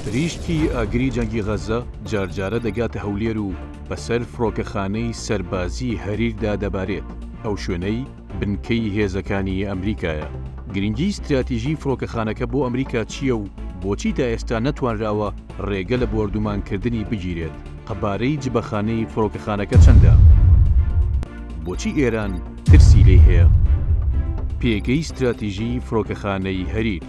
پریشکی ئاگری جەنگی غەززە جارجارە دەگاتە هەولێر و بەسەر فڕۆکەخانەی سەربازیی هەریردا دەبارێت، ئەو شوێنەی بنکەی هێزەکانی ئەمریکایە. گرنگیی ستراتیژیی فڕۆکەخانەکە بۆ ئەمریکا چییە و بۆچی تا ئێستا نەتوانراوە رێگە لە بۆردومانکردنی بگیرێت؟ قەبارەی جبەخانەی فڕۆکەخانەکە چەندە؟ بۆچی ئێران ترسی لێی هەیە؟ پێگەی ستراتیژیی فڕۆکەخانەی هەریر.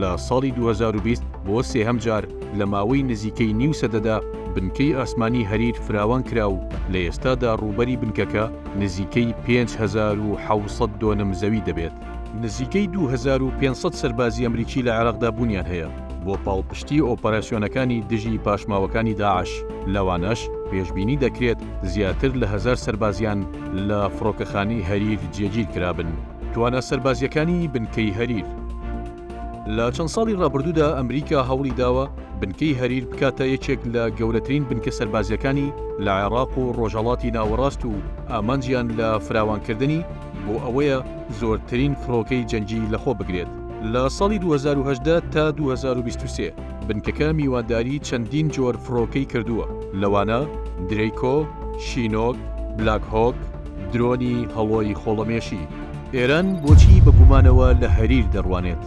لە ساڵی دوو هەزار و بیست بۆ سێهەم جار لە ماوەی نزیکەی نیو سەدەدا بنکەی ئاسمانی هەریر فراوان کرا و لە ئێستادا ڕووبەری بنکەکە نزیکەی پێنج هەزار و حەوت سەد دۆنم زەوی دەبێت. نزیکەی دوو هەزار و پێنج سەد سەربازی ئەمریکی لە عێراقدا بوونیان هەیە بۆ پاڵپشتی ئۆپەراسیۆنەکانی دژی پاشماوەکانی داعش، لەوانەش پێشبینی دەکرێت زیاتر لە هەزار سەربازیان لە فڕۆکەخانەی هەریر جێگیر کرابن. توانا سەربازییەکانی بنکەی هەریر. لە چەند ساڵی ڕابردوودا ئەمریکا هەوڵی داوە بنکەی هەریر بکاتە یەکێک لە گەورەترین بنکە سەربازییەکانی لە عێراق و ڕۆژهەڵاتی ناوەڕاست و ئامانجیان لە فراوانکردنی بۆ ئەوەیە زۆرترین فڕۆکەی جەنگی لەخۆ بگرێت. لە ساڵی دوو هەزار و هەژدە تا دوو هەزار و بیست و سێ بنکەکە میوانداری چەندین جۆر فڕۆکەی کردووە لەوانە درەیکۆ، شینۆک، بلاک هۆک، درۆنی هەڵۆی خۆڵەمێشی ئێران بۆچی بە گومانەوە لە هەریر دەڕوانێت؟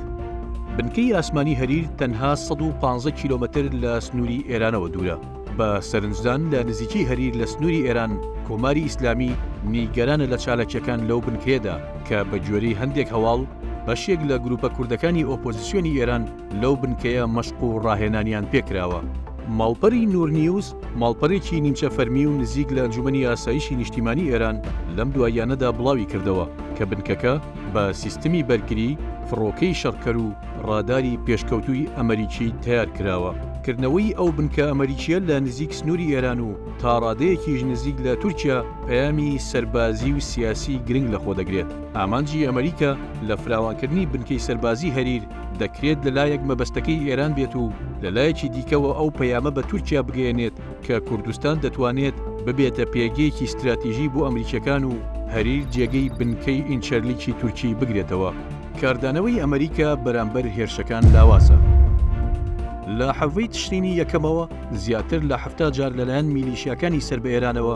بنکەی ئاسمانی هەریر تەنها سەد و پازدە کیلۆمەتر لە سنووری ئێرانەوە دوورە. بە سەرنجدان لە نزیکی هەریر لە سنووری ئێران، کۆماری ئیسلامی نیگەرانە لە چالاکییەکان لەو بنکەیەدا کە بە گوێرەی هەندێک هەواڵ بەشێک لە گرووپە کوردەکانی ئۆپۆزیسیۆنی ئێران لەو بنکەیە مەشق و ڕاهێنانیان پێ کراوە. ماڵپەری نورنیوز، ماڵپەرێکی نیمچە فەرمی و نزیک لە ئەنجومەنی ئاسایشی نیشتیمانی ئێران لەم دواییانەدا بڵاوی کردەوە کە بنکەکە بە سیستمی بەرگری، فڕۆکەی شەڕکەر و ڕاداری پێشکەوتووی ئەمەریکی تەیار کراوە. کردنەوەی ئەو بنکە ئەمەریکییە لە نزیک سنووری ئێران و تاڕادەیەکیش نزیک لە تورکیا پەیامی سەربازی و سیاسی گرنگ لەخۆ دەگرێت. ئامانجی ئەمەریکا لە فراوانکردنی بنکەی سەربازی هەریر، دەکرێت لە لایەک مەبەستەکەی ئێران بێت و لە لایەکی دیکەوە ئەو پەیامە بە تورکیا بگەیەنێت کە کوردستان دەتوانێت ببێتە پێگەیەکی ستراتیژی بۆ ئەمریکییەکان و هەریر جێگەی بنکەی ئینچەرلیکی تورکی بگرێتەوە. کاردانەوەی ئەمریکا بەرامبەر هێرشەکان لاوازە. لە حەڤی تشرینی یەکەمەوە زیاتر لە حەفتا جار لەلایەن میلیشیاکانی سەر بە ئێرانەوە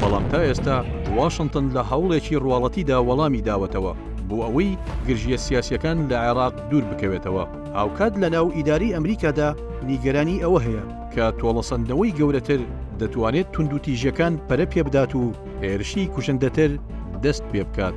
بەڵام تا ئێستا واشنتن لە هەوڵێکی ڕواڵەتیدا وەڵامی داوەتەوە بۆ ئەوەی گرژییە سیاسییەکان لە عێراق دوور بکەوێتەوە. هاوکات لە ناو ئیدارەی ئەمریکادا نیگەرانی ئەوە هەیە کە تۆڵەسەندنەوەی گەورەتر دەتوانێت توندوتیژییەکان پەرە پێبدات و هێرشی کوشندەتر دەست پێ بکات.